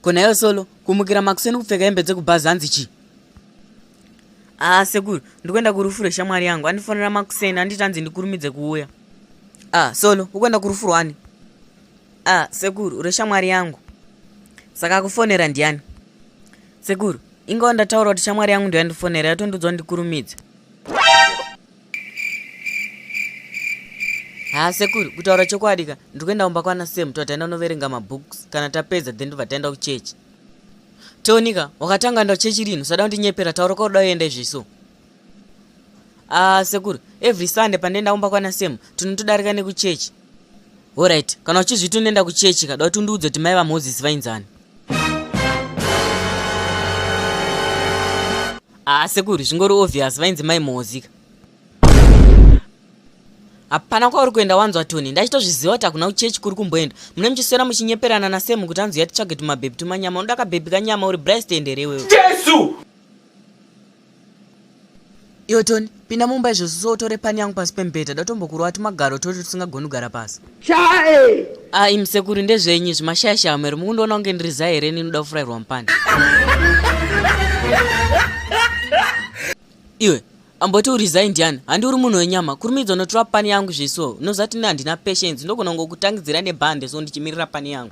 konayo solo kumukira makuseni kupfeka hembe dzekubhazi hanzi chii haa ah, sekuru ndikuenda kurufu reshamwari yangu andifonera makuseni anditi hanzi ndikurumidze kuuya a ah, solo ukuenda kurufu rwani ah sekuru uri shamwari yangu saka akufonera ndiani sekuru ingawa ndataura kuti shamwari yangu ndoyandifonera yatondiudzwa ndikurumidza haa sekuru kutaura chokwadi ka ndiri kuenda kumba kwana sam tataenda unoverenga mabooks kana tapedza then ndobva taenda kuchechi tonika wakatanga enda kuchechi rinhu sada kundinyepera taura kwakuda uenda izvi so Ah, sekuru, every Sunday pandenda umba kwana Sam, tunotodarika neku church. Alright, kana uchizviti unoenda ku church kada kuti undiudze kuti mai va Moses vainzani. Ah, sekuru, zvingori obvious vainzi mai Moses. Hapana kwauri kuenda wanzwa Tony, ndachitozviziva kuti hakuna kuchechi kuri kumboenda. Mune muchiswera muchinyeperana na Sam kuti anzi yatitsvage tumabhebhi tumanyama, unoda kabhebhi kanyama uri Bryce tenderewe. Jesu! iwe toni pinda mumba izvozvo so utore pani yangu pasi pemubhedha datombokurova tumagaro toti tusingagoni kugara pasi chae ai musekuru ndezvenyi zvimashayashaya mwero mukundiona kunge ndiri zai here ninoda kufurairwa mupani iwe amboti uri zai ndiani handi uri munhu wenyama kurumidza unotora pani yangu zveso unozati ne handina patience ndogona ngokutangidzira nebhande so ndichimirira pani yangu